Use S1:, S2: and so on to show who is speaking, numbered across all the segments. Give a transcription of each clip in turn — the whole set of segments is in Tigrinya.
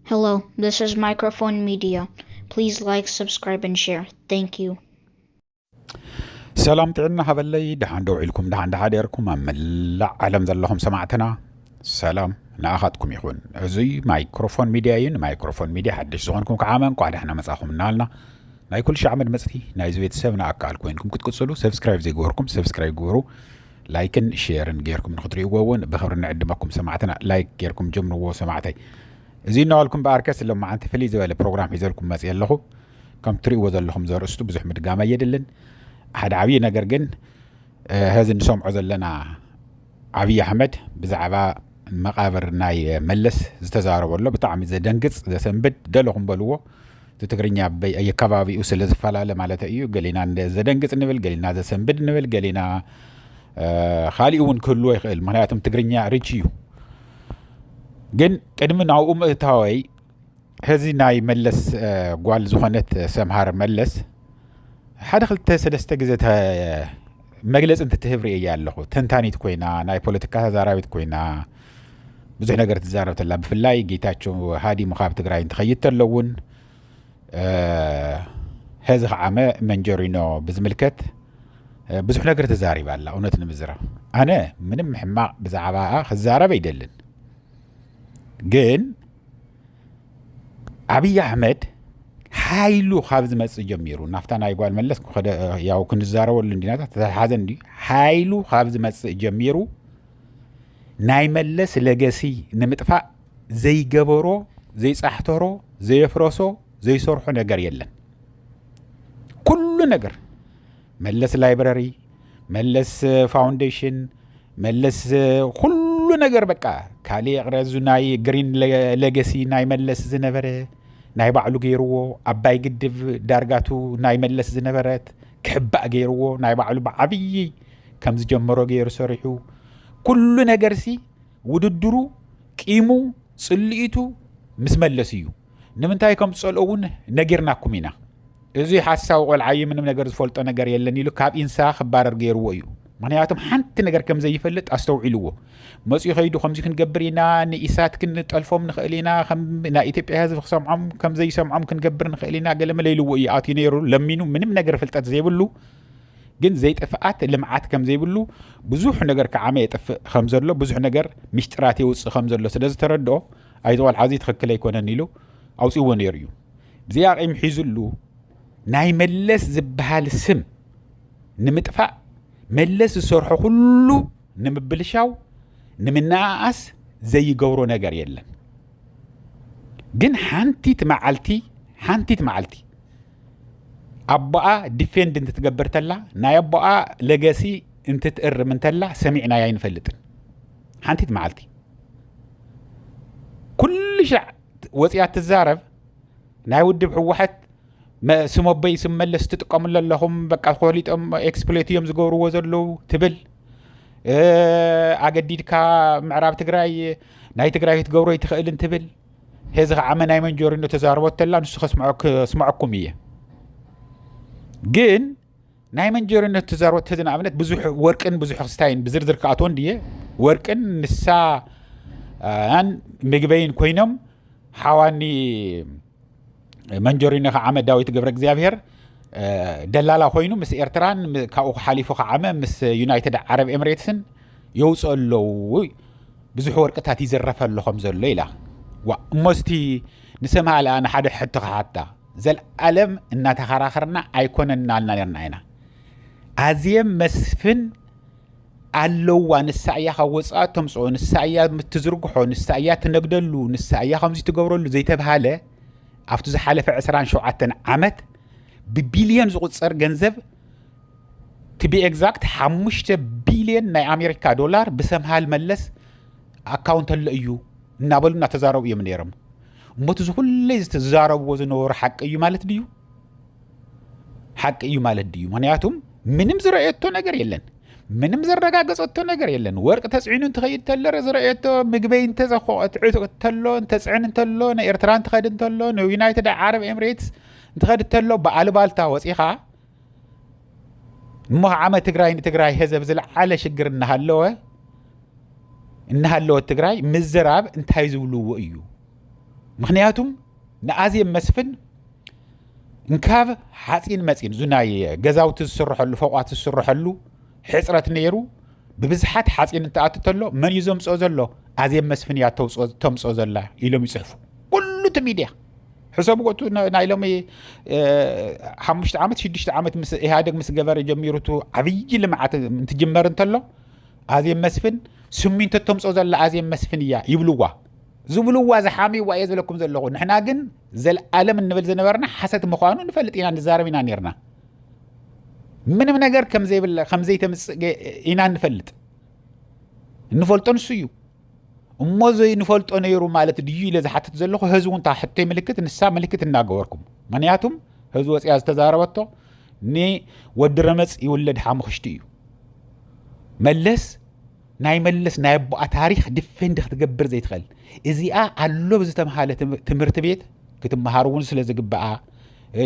S1: Hello, this is Microphone Media. Please like, subscribe, and share. Thank you.
S2: ሰላም ጥዕና ሃበለይ ደሓን ደው ኢልኩም ደሓን ደሓደርኩም ኣብ መላእ ዓለም ዘለኹም ሰማዕትና ሰላም ንኣኻትኩም ይኹን እዙይ ማይክሮፎን ሚድያ እዩ ንማይክሮፎን ሚድያ ሓድሽ ዝኾንኩም ከዓ መን ኳዕ ደሕና መፃኹም እናልና ናይ ኩሉ ሻዕ መድመፅቲ ናይዚ ቤተሰብ ንኣካል ኮይንኩም ክትቅፅሉ ሰብስክራይብ ዘይገበርኩም ሰብስክራይብ ግበሩ ላይክን ሼርን ጌርኩም ንክትሪእዎ እውን ብክብሪ ንዕድመኩም ሰማዕትና ላይክ ጌርኩም ጀምርዎ ሰማዕተይ እዚ እናበልኩም በኣርከስ ሎማዓንቲ ፍልይ ዝበለ ፕሮግራም ሒዘልኩም መፅ ኣለኹ ከም ትሪእዎ ዘለኹም ዘርእስቱ ብዙሕ ምድጋም ኣየድልን ሓደ ዓብዪ ነገር ግን ሀዚ ንሰምዖ ዘለና ዓብዪ ኣሕመድ ብዛዕባ መቃብር ናይ መለስ ዝተዛረበሎ ብጣዕሚ ዘደንግፅ ዘሰንብድ ደለኹም በልዎ እቲ ትግርኛ የከባቢኡ ስለ ዝፈላለ ማለት እዩ ገሊና ዘደንግፅ ንብል ገሊና ዘሰንብድ ንብል ገሊና ካሊእ እውን ክህልዎ ይኽእል ምክንያቱም ትግርኛ ርች እዩ ግን ቅድሚ ናብኡ ምእታወይ ከዚ ናይ መለስ ጓል ዝኾነት ሰምሃር መለስ ሓደ ክልተ ሰለስተ ግዜ መግለፂ እንትትህብ ርእየ ኣለኹ ተንታኒት ኮይና ናይ ፖለቲካ ተዛራቢት ኮይና ብዙሕ ነገር ትዛረብ ተላ ብፍላይ ጌታቸው ሃዲሙ ካብ ትግራይ እንትኸይድ ተሎ እውን ሕዚ ከዓመ መንጀሪኖ ብዝምልከት ብዙሕ ነገር ተዛሪባ ኣላ እውነት ንምዝራብ ኣነ ምንም ሕማቕ ብዛዕባ ክዛረብ ኣይደልን ግን ኣብይ ኣሕመድ ሓይሉ ካብ ዝመፅእ ጀሚሩ ናብታ ናይ ጓል መለስ ያው ክንዛረበሉ እንዲናታት ተተሓዘ እንዲ ሓይሉ ካብ ዝመፅእ ጀሚሩ ናይ መለስ ለገሲ ንምጥፋእ ዘይገበሮ ዘይጻሕተሮ ዘየፍረሶ ዘይሰርሖ ነገር የለን ኩሉ ነገር መለስ ላይብረሪ መለስ ፋውንዴሽን መለስ ኩሉ ነገር በቃ ካልእ ይቕረ እዚ ናይ ግሪን ለገሲ ናይ መለስ ዝነበረ ናይ ባዕሉ ገይርዎ ኣባይ ግድብ ዳርጋቱ ናይ መለስ ዝነበረት ክሕባእ ገይርዎ ናይ ባዕሉ ብዓብዪ ከም ዝጀመሮ ገይሩ ሰሪሑ ኩሉ ነገርሲ ውድድሩ ቂሙ ጽልኢቱ ምስ መለስ እዩ ንምንታይ ከም ዝጸልኦ እውን ነጊርናኩም ኢና እዚ ሓሳዊ ቆልዓ እዩ ምንም ነገር ዝፈልጦ ነገር የለን ኢሉ ካብ ኢንሳ ክባረር ገይርዎ እዩ ምክንያቱም ሓንቲ ነገር ከም ዘይፈልጥ ኣስተውዒልዎ መፅኡ ከይዱ ከምዚ ክንገብር ኢና ንኢሳት ክንጠልፎም ንኽእል ኢና ናይ ኢትዮጵያ ህዝቢ ክሰምዖም ከምዘይሰምዖም ክንገብር ንኽእል ኢና ገለመለ ኢልዎ እዩ ኣትዩ ነይሩ ለሚኑ ምንም ነገር ፍልጠት ዘይብሉ ግን ዘይጥፍኣት ልምዓት ከም ዘይብሉ ብዙሕ ነገር ክዓመ የጥፍእ ከም ዘሎ ብዙሕ ነገር ሚስጢራት የውፅእ ከም ዘሎ ስለ ዝተረድኦ ኣይዚ ቆልዓ እዚ ትኽክል ኣይኮነን ኢሉ ኣውፅዎ ነይሩ እዩ ብዘይ ኣቂም ሒዙሉ ናይ መለስ ዝበሃል ስም ንምጥፋእ መለስ ዝሰርሖ ኩሉ ንምብልሻው ንምንኣኣስ ዘይገብሮ ነገር የለን ግን ሓንቲት መዓልቲ ሓንቲት መዓልቲ ኣቦኣ ዲፌንድ እንትትገብር ተላ ናይ ኣቦኣ ለገሲ እንትትእርም እንተላ ሰሚዕናያ ኣይንፈልጥን ሓንቲት መዓልቲ ኩሉ ሻዕ ወፅያ ትዛረብ ናይ ውድብ ህወሓት ስም ኣቦይ ስም መለስ ትጥቀምሉ ኣለኹም በቃ ኮሊጦም ኤክስፕሎት እዮም ዝገብርዎ ዘለዉ ትብል ኣገዲድካ ምዕራብ ትግራይ ናይ ትግራይ ክትገብሮ ይትኽእልን ትብል ሄዚ ከዓ መናይ መንጆሪኖ ተዛርቦ ተላ ንሱ ከስምዐኩም እየ ግን ናይ መንጆሪኖ ተዛርቦ ተዚ ንኣብነት ብዙሕ ወርቅን ብዙሕ ክስታይን ብዝርዝር ክኣትዎ እንድየ ወርቅን ንሳ ን ምግበይን ኮይኖም ሓዋኒ መንጆሪኖ ከዓመ ዳዊት ገብረ እግዚኣብሄር ደላላ ኮይኑ ምስ ኤርትራን ካብኡ ሓሊፉ ከዓመ ምስ ዩናይትድ ዓረብ ኤምሬትስን የውፅኦ ኣለዉ ብዙሕ ወርቅታት ይዝረፈ ኣሎ ከም ዘሎ ኢላ ዋ እሞስቲ ንሰምሃልኣ ንሓደ ሕቶ ክሓታ ዘለኣለም እናተኸራኸርና ኣይኮነናልና ነርና ኢና ኣዝየም መስፍን ኣለዋ ንሳ እያ ካብ ወፃኢ ተምፅኦ ንሳ እያ ትዝርግሖ ንሳ እያ ትነግደሉ ንሳ እያ ከምዚ ትገብረሉ ዘይተብሃለ ኣብቲ ዝሓለፈ 27 ዓመት ብቢልዮን ዝቁፀር ገንዘብ ትቢ ኤግዛክት ሓሙሽተ ቢልዮን ናይ ኣሜሪካ ዶላር ብሰምሃል መለስ ኣካውንት ኣሎ እዩ እናበሉ እናተዛረቡ እዮም ነይሮም እሞቲ ዝኩለይ ዝተዛረብዎ ዝነበሩ ሓቂ እዩ ማለት ድዩ ሓቂ እዩ ማለት ድዩ? ምክንያቱም ምንም ዝረእየቶ ነገር የለን ምንም ዘረጋገፀቶ ነገር የለን። ወርቂ ተፅዕኑ እንትኸይድ ተሎ ዝረእየቶ ምግበይ እንተሎ እንተፅዕን እንተሎ ንኤርትራ እንትኸድ እንተሎ ንዩናይትድ ዓረብ ኤምሬትስ እንትኸድ እንተሎ ብኣልባልታ ወፂኻ እሞ ዓመ ትግራይ ንትግራይ ህዘብ ዝለዓለ ሽግር እናሃለወ እናሃለወት ትግራይ ምዝራብ እንታይ ዝብልዎ እዩ ምክንያቱም ንኣዜብ መስፍን እንካብ ሓፂን መፂን እዙ ናይ ገዛውቲ ዝስርሐሉ ፎቋት ዝስርሐሉ ሕፅረት ነይሩ ብብዝሓት ሓፂን እንትኣቱ ተሎ መን እዩ ዘምፅኦ ዘሎ ኣዜብ መስፍን እያ ተምፅኦ ዘላ ኢሎም ይፅሕፉ ኩሉ እቲ ሚድያ ሕሰብ ወቱ ናይ ሎሚ ሓሙሽተ ዓመት ሽዱሽተ ዓመት ምስ ኢህደግ ምስ ገበረ ጀሚሩ ቱ ዓብዪ ልምዓት እንትጅመር እንተሎ ኣዜብ መስፍን ስሚንቶ ተምፅኦ ዘላ ኣዜብ መስፍን እያ ይብልዋ ዝብልዋ ዝሓምይዋ እየ ዝብለኩም ዘለኹ ንሕና ግን ዘለኣለም እንብል ዝነበርና ሓሰት ምዃኑ ንፈልጥ ኢና ንዛረብ ኢና ነርና ምንም ነገር ከምዘይብለ ከምዘይተምፅእ ኢና ንፈልጥ እንፈልጦ ንሱ እዩ እሞ ዘይንፈልጦ ነይሩ ማለት ድዩ ኢለ ዝሓትት ዘለኹ ህዚ እውን እታ ሕቶይ ምልክት ንሳ ምልክት እናገበርኩም ምክንያቱም ህዚ ወፅያ ዝተዛረበቶ ንወዲ ረመፅ ይውለድ ሓሙኽሽቲ እዩ መለስ ናይ መለስ ናይ ኣቦኣ ታሪክ ዲፌንድ ክትገብር ዘይትኽእል እዚኣ ኣሎ ብዝተምሃለ ትምህርቲ ቤት ክትመሃር እውን ስለ ዝግበኣ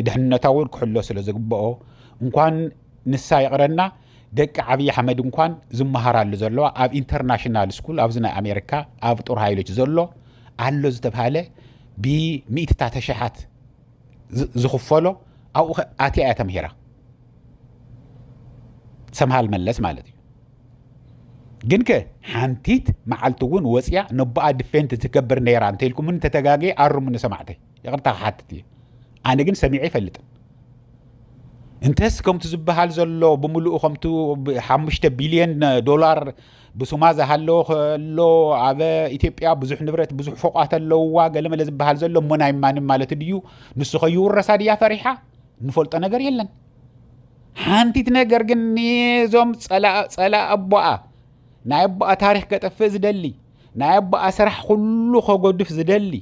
S2: ድሕነታ እውን ክሕሎ ስለ ዝግበኦ እንኳን ንሳ ይቕረና ደቂ ዓብዪ ኣሕመድ እንኳን ዝመሃራሉ ዘለዋ ኣብ ኢንተርናሽናል ስኩል ኣብዚ ናይ ኣሜሪካ ኣብ ጦር ሃይሎች ዘሎ ኣሎ ዝተብሃለ ብሚእትታት ተሸሓት ዝኽፈሎ ኣብኡ ኣትያ እያ ተምሂራ ሰምሃል መለስ ማለት እዩ ግን ከ ሓንቲት መዓልቲ እውን ወፅያ ነቦኣ ድፌንት ትገብር ነይራ እንተኢልኩምኒ ተተጋገየ ኣርሙኒ ሰማዕተይ ይቕርታ ክሓትት እየ ኣነ ግን ሰሚዐ ይፈልጥን እንተስ ከምቲ ዝበሃል ዘሎ ብምሉኡ ከምቲ ሓሙሽተ ቢልዮን ዶላር ብሱማ ዝሃለዎ ከሎ ኣብ ኢትዮጵያ ብዙሕ ንብረት ብዙሕ ፎቋት ኣለውዋ ገለመለ ዝበሃል ዘሎ እሞ ናይ ማንም ማለት ድዩ ንሱ ከይውረሳ ድያ ፈሪሓ ንፈልጦ ነገር የለን ሓንቲት ነገር ግን ንዞም ፀላ ኣቦኣ ናይ ኣቦኣ ታሪክ ከጠፍእ ዝደሊ ናይ ኣቦኣ ስራሕ ኩሉ ከጎድፍ ዝደሊ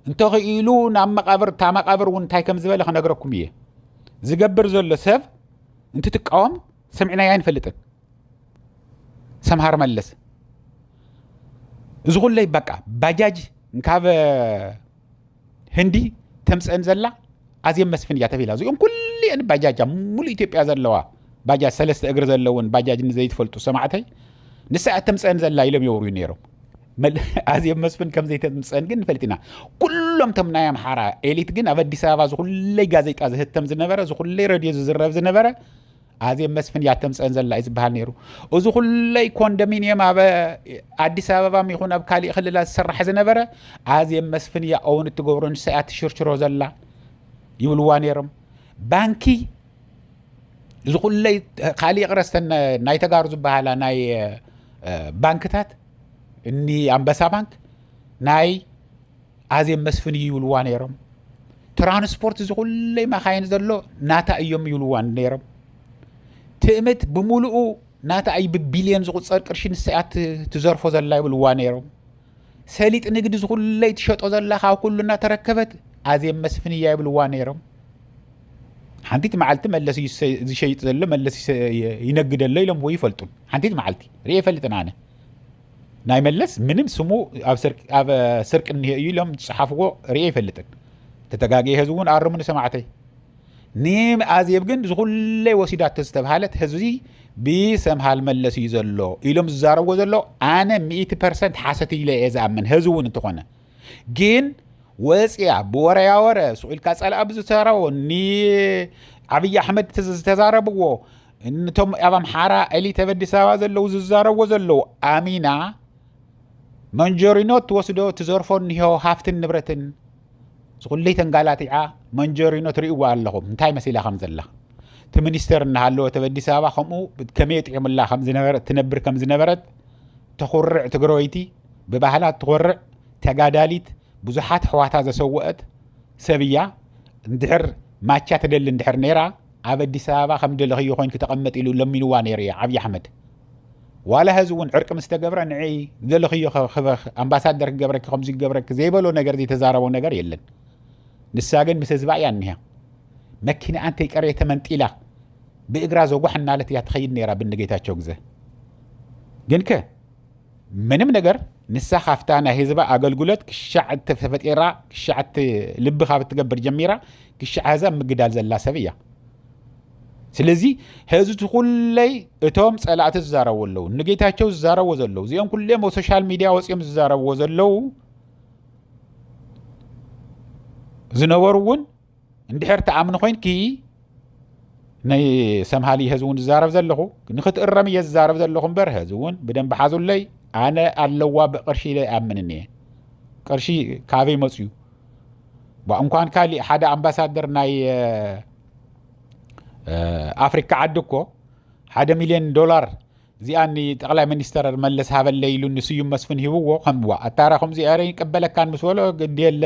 S2: እንተኽኢሉ ናብ መቃብር እታ መቃብር እውን እንታይ ከም ዝበለ ክነግረኩም እየ ዝገብር ዘሎ ሰብ እንትትቃወም ሰሚዕናዮ ኣይንፈልጥን ሰምሃር መለስ እዚ ኩለይ በቃ ባጃጅ እንካብ ህንዲ ተምፅእን ዘላ ኣዜብ መስፍን እያ ተፊላ እዚኦም ኩሉኤን ባጃጃ ሙሉ ኢትዮጵያ ዘለዋ ባጃጅ ሰለስተ እግሪ ዘለውን ባጃጅ ንዘይትፈልጡ ሰማዕተይ ንሳ እያ ተምፅእን ዘላ ኢሎም የውርዩ ነይሮም ኣዜብ መስፍን ከም ዘይተምፅእን ግን ንፈልጥ ኢና ኩሎም ቶም ናይ ኣምሓራ ኤሊት ግን ኣብ ኣዲስ ኣበባ ዝኩለይ ጋዜጣ ዝህተም ዝነበረ ዝኩለይ ረድዮ ዝዝረብ ዝነበረ ኣዜብ መስፍን እያ ተምፀን ዘላ እዩ ዝበሃል ነይሩ እዚ ኩለይ ኮንዶሚኒየም ኣብ ኣዲስ ኣበባም ይኹን ኣብ ካሊእ ክልላት ዝስራሕ ዝነበረ ኣዜብ መስፍን እያ እውን እትገብሮ ንሳ እያ ትሽርሽሮ ዘላ ይብልዋ ነይሮም ባንኪ እዚ ኩለይ ካሊእ ቅረስ ናይ ተጋሩ ዝበሃላ ናይ ባንክታት እኒ ኣንበሳ ባንክ ናይ ኣዜብ መስፍን እዩ ይብልዋ ነይሮም ትራንስፖርት እዚ ኩለይ ማካይን ዘሎ ናታ እዮም ይብልዋ ነይሮም ትእምት ብምሉኡ ናታ እዩ ብቢልዮን ዝቁፀር ቅርሺ ንሳያ ትዘርፎ ዘላ ይብልዋ ነይሮም ሰሊጥ ንግዲ ዝኩለይ ትሸጦ ዘላ ካብ ኩሉ እናተረከበት ኣዜብ መስፍን እያ ይብልዋ ነይሮም ሓንቲት መዓልቲ መለስ እዩ ዝሸይጥ ዘሎ መለስ ይነግደሎ ኢሎምዎ ይፈልጡን ሓንቲት መዓልቲ ርእ ይፈልጥን ኣነ ናይ መለስ ምንም ስሙ ኣብ ስርቂ እኒሀ እዩ ኢሎም ዝፀሓፍዎ ርኤ ይፈልጥን ተተጋጊየ ህዝቢ እውን ኣርሙኒ ሰማዕተይ ንኣዜብ ግን ዝኩለይ ወሲዳቶ ዝተብሃለት ህዝቢ ብሰምሃል መለስ እዩ ዘሎ ኢሎም ዝዛረብዎ ዘሎ ኣነ ሚእቲ ፐርሰንት ሓሰት ኢለ እየ ዝኣምን ህዝቢ እውን እንትኾነ ግን ወፅያ ብወረያ ወረ ስቁኢልካ ፀላኣ ብዝተረቦ ንዓብዪ ኣሕመድ ዝተዛረብዎ እንቶም ኣብ ኣምሓራ ኤሊት ኣብ ኣዲስ ኣበባ ዘለዉ ዝዛረቦ ዘለዉ ኣሚና መንጀሪኖ ትወስዶ ትዘርፎ እኒሆ ሃፍትን ንብረትን ዝኩለይ ተንጋላቲዓ መንጀሪኖ ትርእይዋ ኣለኹም እንታይ መሲላ ከም ዘላ እቲ ሚኒስተር እናሃለወ ኣብ ኣዲስ ኣበባ ከምኡ ከመይ ጥዒሙላ ትነብር ከም ዝነበረት ተኹርዕ ትግራወይቲ ብባህላ ትኮርዕ ተጋዳሊት ብዙሓት ኣሕዋታ ዘሰወአት ሰብ እያ እንድሕር ማቻ ትደሊ እንድሕር ነይራ ኣብ ኣዲስ ኣበባ ከም ዝደለኽዮ ኮይንኪ ተቐመጢ ኢሉ ለሚንዋ ነይሩ ኢዩ ዓብዪ ኣሕመድ። ዋላ ሀዚ እውን ዕርቂ ምስ ተገብረ ንዒ ዝደለኽዮ ክበኽ ኣምባሳደር ክገብረኪ ከምዚ ክገብረኪ ዘይበሎ ነገር ዘይተዛረቦ ነገር የለን። ንሳ ግን ምስ ህዝባ ኢያ እኒሃ። መኪንኣ እንተይቀረየ ተመንጢላ ብእግራ ዘጓሕ እናለት ኢያ ትኸይድ ነይራ ብኒ ጌታቸው ግዘ። ግንከ ምንም ነገር ንሳ ካብታ ናይ ህዝባ ኣገልግሎት ክሻዕ ተፈጢራ ክሻዕ ልቢ ካብ እትገብር ጀሚራ ክሻዕ ህዛ ምግዳል ዘላ ሰብ እያ ስለዚ ህዚ እቲ ኩለይ እቶም ፀላእቲ ዝዛረቡ ኣለዉ ንጌታቸው ዝዛረቡ ዘለዉ እዚኦም ኩሎም ኣብ ሶሻል ሚዲያ ወፂኦም ዝዛረብዎ ዘለዉ ዝነበሩ እውን እንድሕር ትኣምኒ ኮይንኪ ናይ ሰምሃሊ ህዚ እውን ዝዛረብ ዘለኹ ንክትእረም እየ ዝዛረብ ዘለኹ እምበር ህዚ እውን ብደንቢ ሓዙለይ ኣነ ኣለዋ ብቅርሺ ኢለ ይኣምን እኒየ ቅርሺ ካበይ መፅዩ እንኳን ካሊእ ሓደ ኣምባሳደር ናይ ኣፍሪካ ዓዲ እኮ ሓደ ሚሊዮን ዶላር እዚኣ ጠቅላይ ሚኒስተር መለስ ሃበለ ኢሉ ንስዩም መስፍን ሂብዎ ከምዋ ኣታራ ከምዚ ኤረ ይቀበለካን ምስ በሎ ግድየለ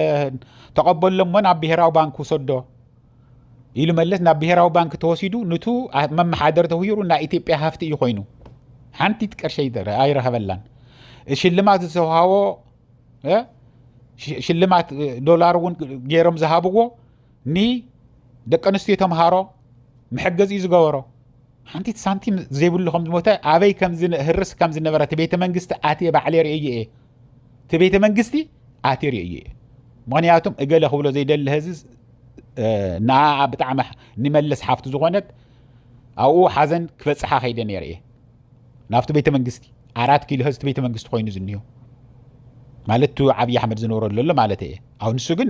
S2: ተቐበሎ እሞ ናብ ብሄራዊ ባንክ ውሰዶ ኢሉ መለስ ናብ ብሄራዊ ባንክ ተወሲዱ ንቱ መመሓደር ተውሂሩ ናይ ኢትዮጵያ ሃፍቲ እዩ ኮይኑ ሓንቲት ቅርሸ ኣይረኸበላን ሽልማት ዝተውሃቦ ሽልማት ዶላር እውን ገይሮም ዝሃብዎ ኒ ደቂ ኣንስትዮ ተምሃሮ መሐገዚ እዩ ዝገበሮ ሓንቲት ሳንቲም ዘይብሉ ከም ዝሞተ ኣበይ ከምዝህርስ ከም ዝነበረ እቲ ቤተ መንግስቲ ኣትየ ባዕለ ርእየ እየ እቲ ቤተ መንግስቲ ኣትየ ርእየ እየ ምክንያቱም እገለ ክብሎ ዘይደሊ ህዚ ንኣ ብጣዕሚ ንመለስ ሓፍቱ ዝኾነት ኣብኡ ሓዘን ክበፅሓ ከይደ ነይረ እየ ናብቲ ቤተ መንግስቲ ኣራት ኪሎ ህዝቲ ቤተ መንግስቲ ኮይኑ ዝኒዮ ማለት እቲ ዓብዪ ኣሕመድ ዝነበረሉ ኣሎ ማለት እየ ኣብ ንሱ ግን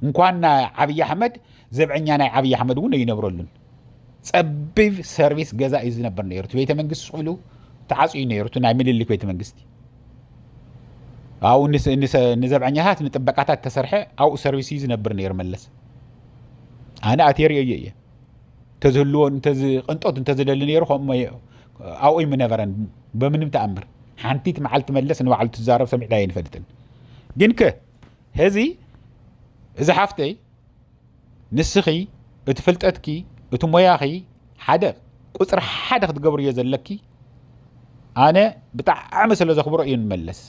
S2: እንኳን ናይ ዓብዪ ኣሕመድ ዘብዐኛ ናይ ዓብዪ ኣሕመድ እውን ኣይነብረሉን ፀቢብ ሰርቪስ ገዛ እዩ ዝነበር ነይሩ እቲ ቤተ መንግስቲ ስቅሉ ተዓፅዩ ነይሩ እቲ ናይ ምልልክ ቤተ መንግስቲ ኣብኡ ንዘብዐኛታት ንጥበቃታት ተሰርሐ ኣብኡ ሰርቪስ እዩ ዝነብር ነይሩ መለስ ኣነ ኣቴሪዮ እየ ተዝህልዎ ቅንጦት እንተዝደሊ ነይሩ ከምኡ ኣብኡይ ምነበረን በምንም ተኣምር ሓንቲት መዓልቲ መለስ ንባዕሉ ትዛረብ ሰሚዕና ኣይንፈልጥን ግን ከ ህዚ እዚ ሓፍተይ ንስኺ እቲ ፍልጠትኪ እቲ ሞያኺ ሓደ ቁፅሪ ሓደ ክትገብርዮ ዘለኪ ኣነ ብጣዕሚ ስለ ዘኽብሮ እዩ ንመለስ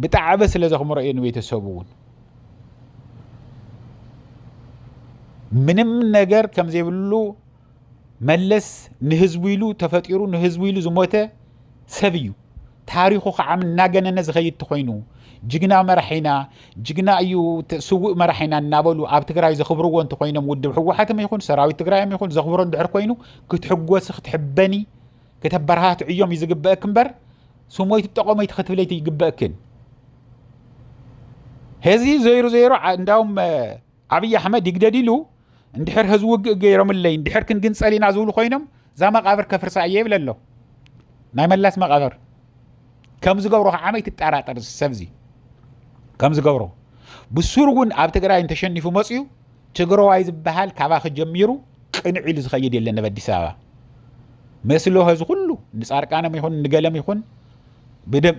S2: ብጣዕበ ስለ ዘኽምሮ እየ ንቤተሰቡ እውን ምንም ነገር ከም ዘይብሉ መለስ ንህዝቡ ኢሉ ተፈጢሩ ንህዝቡ ኢሉ ዝሞተ ሰብ እዩ ታሪኹ ከዓ እናገነነ ዝኸይድ ተኾይኑ ጅግና መራሒና ጅግና እዩ ስውእ መራሒና እናበሉ ኣብ ትግራይ ዘኽብርዎ እንተኮይኖም ውድብ ሕወሓትም ይኹን ሰራዊት ትግራይም ይኹን ዘኽብሮ እንድሕር ኮይኑ ክትሕጎሲ ክትሕበኒ ከተበረታትዕዮም እዩ ዝግበእክ እምበር ስሞይቲ ጠቆመይቲ ክትብለይቲ ይግበእክን ሄዚ ዘይሩ ዘይሩ እንዳውም ዓብዪ ኣሕመድ ይግደድ ኢሉ እንድሕር ህዚ ውግእ ገይሮምለይ እንድሕር ክንግንፀል ኢና ዝብሉ ኮይኖም እዛ መቃብር ከፍርሳ እየ ይብለ ኣሎ ናይ መላስ መቃብር ከም ዝገብሮ ከዓ መይ ትጠራጠር ሰብዚ ከም ዝገብሮ ብሱር እውን ኣብ ትግራይ እንተሸኒፉ መፅዩ ትግረዋይ ዝበሃል ካባኺ ጀሚሩ ቅንዕ ኢሉ ዝኸይድ የለን ናብ ኣዲስ ኣበባ መስሎ ህዚ ኩሉ ንፃርቃኖም ይኹን ንገለም ይኹን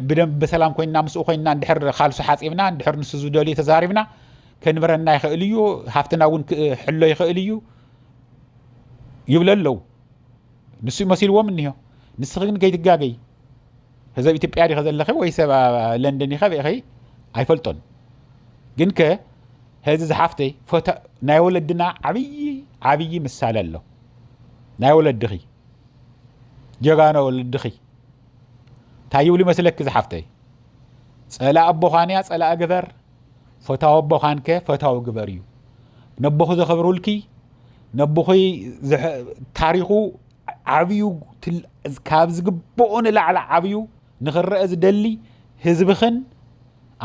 S2: ብደንብ ብሰላም ኮይና ምስኡ ኮይና እንድሕር ካልሱ ሓፂብና እንድሕር ንሱ ዝደልዩ ተዛሪብና ከንብረና ይኽእል እዩ ሃፍትና እውን ክሕሎ ይኽእል እዩ ይብለ ኣለዉ ንሱ መሲልዎም እኒሆ ንስኺ ግን ከይትጋገይ ህዘብ ኢትዮጵያ ዲኸ ዘለኺ ወይ ሰብ ለንደን ዲኸ ርኢኺ ኣይፈልጦን ግን ከ ህዚ ዝሓፍተይ ፎቶ ናይ ወለድና ዓብዪ ዓብዪ ምሳሌ ኣሎ ናይ ወለድኺ ጀጋኖ ወለድኺ እንታይ ይብሉ ይመስለኪ ዝሓፍተይ ጸላእ ኣቦዃንያ ጸላእ ግበር ፈታዊ ኣቦ ኻንከ ፈታዊ ግበር እዩ ነቦኺ ዘኽብሩልኪ ነቦኺ ታሪኹ ዓብዩ ካብ ዝግብኦ ንላዕሊ ዓብዩ ንኽረአ ዝደሊ ህዝብኽን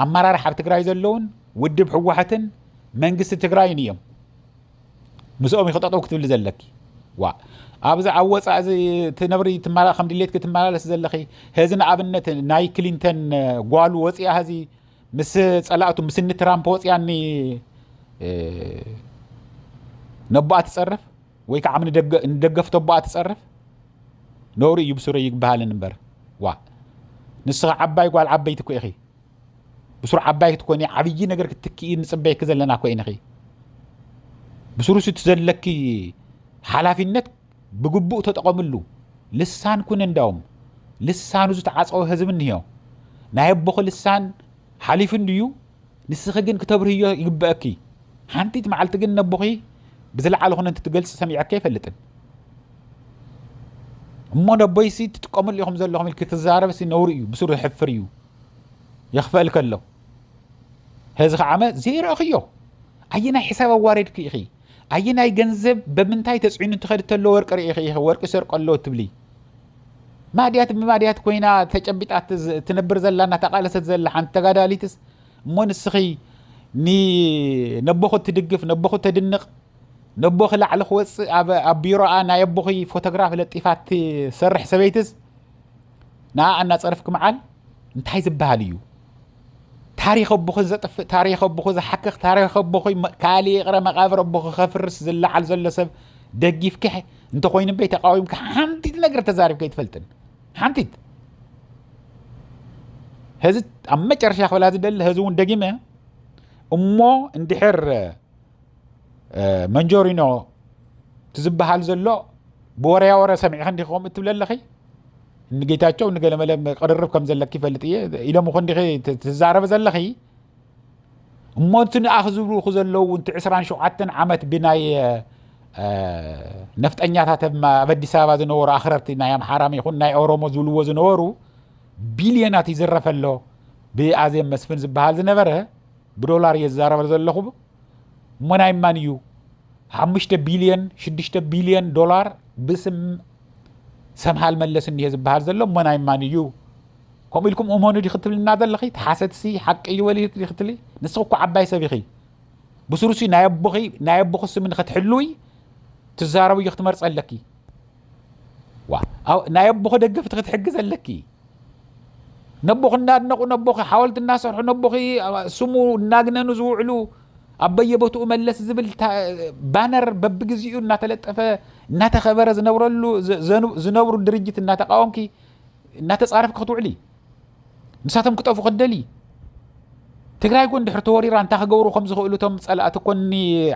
S2: ኣመራርሓ ኣብ ትግራይ ዘለውን ውድብ ህወሓትን መንግስቲ ትግራይን እዮም ምስኦም ይክጠጠው ክትብሊ ዘለኪ ዋ ኣብዚ ኣብ ወፃእ እዚ ትነብሪ ትመላ ከም ድሌትኪ ትመላለስ ዘለኺ ህዚ ንኣብነት ናይ ክሊንተን ጓሉ ወፂኣ ህዚ ምስ ጸላእቱ ምስ እኒ ትራምፕ ወፅያኒ ነቦኣ ትጸርፍ ወይ ከዓ ንደገፍቶ ኣቦኣ ትጸርፍ ነውሪ እዩ ብሱረ ይግበሃልን እምበር ዋ ንስኻ ዓባይ ጓል ዓበይቲ ኮ ኢኺ ብሱሩ ዓባይ ክትኮኒ ዓብዪ ነገር ክትክኢ ንፅበይኪ ዘለና ኮ ኢንኺ ብሱሩ እቲ ዘለኪ ሓላፊነት ብግቡእ ተጠቐምሉ ልሳን ኩን እንዳውም ልሳኑ ዝተዓጸወ ህዝቢ እንሄ ናይ ኣቦኺ ልሳን ሓሊፉ እንድዩ ንስኺ ግን ክተብርህዮ ይግበእኪ ሓንቲት መዓልቲ ግን ነቦኺ ብዝለዓለ ኹነ እንትትገልጽ ሰሚዐኪ ኣይፈልጥን እሞ ነቦይሲ ትጥቀምሉ ኢኹም ዘለኹም ኢልኪ ትዛረብሲ ነውሪ እዩ ብስሩ ዝሕፍር እዩ የኽፈእል ከሎ ህዚ ከዓመ ዘይረእኽዮ ኣየናይ ሕሳብ ኣዋሬድኪ ኢኺ ኣየናይ ገንዘብ በምንታይ ተፅዒኑ እንትኸድ ተሎ ወርቂ ርኢኺ ኢኺ ወርቂ ሰርቆ ኣሎ ትብሊ ማድያት ብማድያት ኮይና ተጨቢጣ ትነብር ዘላ እናተቓለሰት ዘላ ሓንቲ ተጋዳሊትስ እሞ ንስኺ ነቦኹ እትድግፍ ነቦኹ ተድንቕ ነቦኺ ላዕሊ ክወፅእ ኣብ ቢሮኣ ናይ ኣቦኺ ፎቶግራፍ ለጢፋ ትሰርሕ ሰበይትስ ንኣ እናፀርፍኪ መዓል እንታይ ዝበሃል እዩ ታሪኽ ኣቦኺ ዘጥፍእ ታሪኽ ኣቦኺ ዝሓክኽ ታሪኽ ኣቦኺ ካልእ ይቕረ መቓብር ኣቦኺ ከፍርስ ዝለዓል ዘሎ ሰብ ደጊፍኪ እንተኮይኑ በይ ተቃዊምኪ ሓንቲት ነገር ተዛሪብከ ኣይትፈልጥን ሓንቲት ህዚ ኣብ መጨረሻ ክብላ ዝደሊ ህዚ እውን ደጊመ እሞ እንድሕር መንጆሪኖ እቲ ዝበሃል ዘሎ ብወረያ ወረ ሰሚዕኺ እንዲኺ ከምኡ እትብለ ኣለኺ ንጌታቸው ንገለመለ ቅርርብ ከም ዘለኪ ይፈልጥ እየ ኢሎም ኹ እንዲኺ ትዛረበ ዘለኺ እሞ እቲ ንኣኽ ዝብልኹ ዘለዉ እውን እቲ 27 ዓመት ብናይ ነፍጠኛታት ኣብ ኣዲስ ኣበባ ዝነበሩ ኣኽረርቲ ናይ ኣምሓራም ይኹን ናይ ኦሮሞ ዝብልዎ ዝነበሩ ቢልዮናት ይዝረፈ ኣሎ ብኣዜብ መስፍን ዝበሃል ዝነበረ ብዶላር እየ ዝዛረበ ዘለኹ እሞ ናይ ማን እዩ ሓሙሽተ ቢልዮን ሽዱሽተ ቢልዮን ዶላር ብስም ሰምሃል መለስ እኒሄ ዝበሃል ዘሎ እሞ ናይ ማን እዩ ከምኡ ኢልኩም እመኑ ዲ ክትብልና ዘለኺ ተሓሰትሲ ሓቂ እዩ ወሊ ክትሊ ንስኺ እኮ ዓባይ ሰብ ኢኺ ብስሩሲ ናይ ኣቦኺ ናይ ኣቦኺ ስም ንክትሕልዊ ትዛረብዮ ክትመርፀ ኣለኪ ዋው ናይ ኣቦኺ ደገፍቲ ክትሕግዝ ኣለኪ ነቦኺ እናድነቑ ነቦኺ ሓወልቲ እናሰርሑ ነቦኺ ስሙ እናግነኑ ዝውዕሉ ኣብ በየቦትኡ መለስ ዝብል ባነር በብግዜኡ እናተለጠፈ እናተኸበረ ዝነብረሉ ዝነብሩ ድርጅት እናተቃወምኪ እናተፃረፍኪ ክትውዕሊ ንሳቶም ክጠፉ ክትደሊ ትግራይ ኮን ድሕሪ ተወሪራ እንታይ ክገብሩ ከም ዝኽእሉ እቶም ፀላእቲ ኮኒ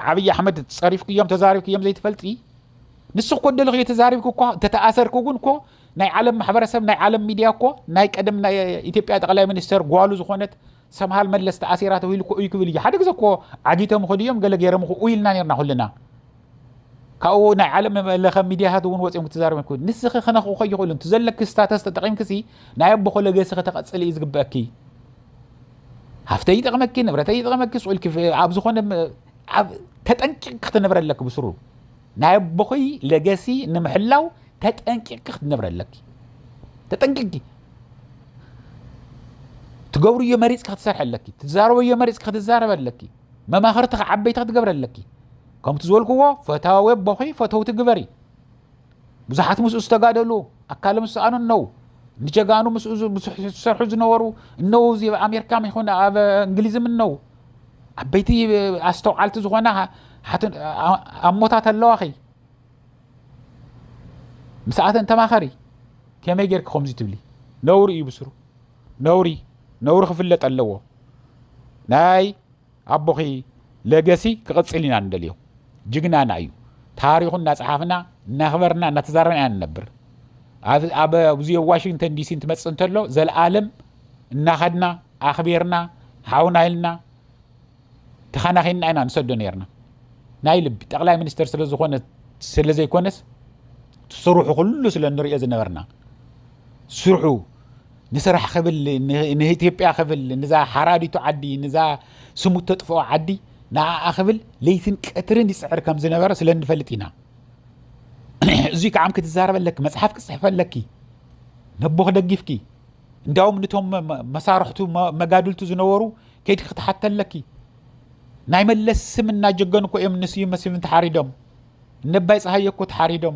S2: ዓብዪ ኣሕመድ ፀሪፍክዮም ተዛሪብክዮም ዘይትፈልጢ ንሱ እኮ ደልኺ ተዛሪብኩ እኳ ተተኣሰርኩ ግን እኮ ናይ ዓለም ማሕበረሰብ ናይ ዓለም ሚድያ እኮ ናይ ቀደም ናይ ኢትዮጵያ ጠቅላይ ሚኒስተር ጓሉ ዝኾነት ሰምሃል መለስ ተኣሲራ ተባሂሉ እኮ እዩ ክብል እዩ ሓደ ግዜ እኮ ዓጊቶም ኸዱ እዮም ገለ ገይሮም እኮ ኢልና ነርና ኩልና ካብኡ ናይ ዓለም ለኸ ሚድያታት እውን ወፂኦም ክትዛረብ ይኮ ንስኺ ክነኽኡ ከይኽእሉ እቲ ዘለኪ ስታተስ ተጠቂምክሲ ናይ ኣቦ ኮለገሲ ከተቐፅል እዩ ዝግበአኪ ሃፍተ ይጠቕመኪ ንብረተ ይጠቕመኪ ስኡልኪ ኣብ ዝኾነ ተጠንቂቕ ክትነብረ ኣለኪ ብስሩ ናይ ኣቦኺ ለገሲ ንምሕላው ተጠንቂቕኪ ክትነብሪ ኣለኪ ተጠንቂቕኪ ትገብርዮ መሪፅኪ ክትሰርሐ ኣለኪ ትዛረበዮ መሪፅኪ ክትዛረበ ኣለኪ መማኽርቲ ዓበይቲ ክትገብረ ኣለኪ ከምቲ ዝበልክዎ ፈታዊ ኣቦኺ ፈተውቲ ግበሪ ብዙሓት ምስኡ ዝተጋደሉ ኣካሎም ዝሰኣኑ እነው ንጀጋኑ ምስኡ ዝሰርሑ ዝነበሩ እነው እዚ ኣብ ኣሜሪካ ይኹን ኣብ እንግሊዝም እነው ዓበይቲ ኣስተውዓልቲ ዝኾና ኣሞታት ኣለዋኺ ምስኣተን ተማኸሪ ከመይ ጌርኪ ከምዚ ትብሊ ነውሪ እዩ ብስሩ ነውሪ ነውሪ ክፍለጥ ኣለዎ ናይ ኣቦኺ ለገሲ ክቕፅል ኢና ንደልዮ ጅግናና እዩ ታሪኹ እናፀሓፍና እናኽበርና እናተዛረብና ኢና ንነብር ኣብዚ ዋሽንግተን ዲሲ እንትመፅእ እንተሎ ዘለኣለም እናኸድና ኣኽቢርና ሓውና ኢልና ተኸናኺንና ኢና ንሰዶ ነርና ናይ ልቢ ጠቕላይ ሚኒስተር ስለ ዝኾነ ስለ ዘይኮነስ ስርሑ ኩሉ ስለ ንሪኦ ዝነበርና ስርሑ ንስራሕ ክብል ንኢትዮጵያ ክብል ንዛ ሓራዲቱ ዓዲ ንዛ ስሙ ተጥፍኦ ዓዲ ንኣኣ ክብል ለይትን ቀትርን ይፅዕር ከም ዝነበረ ስለ እንፈልጥ ኢና እዙይ ከዓ ክትዛረበ ኣለኪ መፅሓፍ ክፅሕፈ ኣለኪ ነቦ ክደጊፍኪ እንዳውም ንቶም መሳርሕቱ መጋድልቱ ዝነበሩ ከይድኪ ክትሓተ ኣለኪ ናይ መለስ ስም እናጀገኑ እኮ እዮም ንስዩ መስፍን ተሓሪዶም ነባይ ፀሃየ እኮ ተሓሪዶም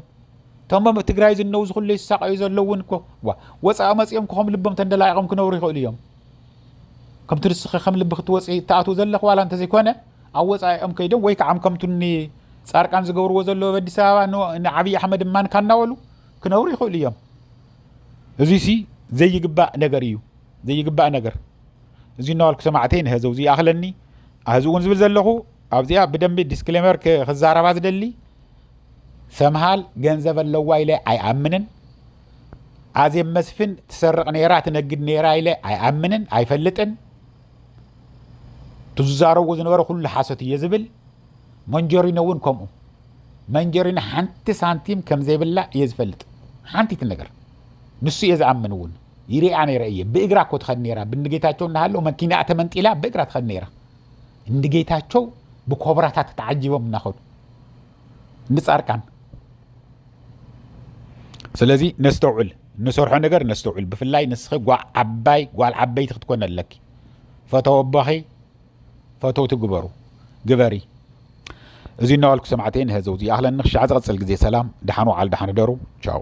S2: እቶም ኣብ ትግራይ ዝነው ዝኩሉ ይሳቀዩ ዘለዉ እውን እኮ ወፃኢ መፂኦም ክኸም ልቦም ተንደላቂቆም ክነብሩ ይኽእሉ እዮም ከምቲ ንስኺ ከም ልቢ ክትወፅ እትኣትው ዘለኽ ዋላ እንተዘይኮነ ኣብ ወፃኢኦም ከይዶም ወይ ከዓ ከምቱ ፃርቃን ዝገብርዎ ዘለዎ ኣብ ኣዲስ ኣበባ ንዓብዪ ኣሕመድ ማን ካናበሉ ክነብሩ ይኽእሉ እዮም እዙይ ሲ ዘይግባእ ነገር እዩ ዘይግባእ ነገር እዚ እናበልኩ ሰማዕተይ ንህዚ እዚ ይኣኽለኒ ኣህዚ እውን ዝብል ዘለኹ ኣብዚኣ ብደንቢ ዲስክሌመር ክዛረባ ዝደሊ ሰምሃል ገንዘብ ኣለዋ ኢለ ኣይኣምንን ኣዜብ መስፍን ትሰርቕ ነይራ ትነግድ ነይራ ኢለ ኣይኣምንን ኣይፈልጥን ትዝዛረብዎ ዝነበረ ኩሉ ሓሶት እየ ዝብል መንጀሪኖ እውን ከምኡ መንጀሪኖ ሓንቲ ሳንቲም ከምዘይብላ እየ ዝፈልጥ ሓንቲት ነገር ንሱ እየ ዝኣምን እውን ይሪኣ ነይረ እየ ብእግራ እኮ ትኸድ ነይራ ብንጌታቸው እናሃለው መኪናኣ ተመንጢላ ብእግራ ትኸድ ነይራ እንጌታቸው ብኮብራታት ተዓጂቦም እናኸዱ ንፃርቃን ስለዚ ነስተውዕል ንሰርሖ ነገር ነስተውዕል ብፍላይ ንስኺ ዓባይ ጓል ዓበይቲ ክትኮነ ኣለኪ ፈተወቦኺ ፈተውቲ ግበሩ ግበሪ እዚ እናዋልኩ ሰማዕተይ ንህዘው ዝይኣኽለን ንክሻዕ ዝቐፅል ግዜ ሰላም ደሓን ወዓል ደሓን ህደሩ ቻው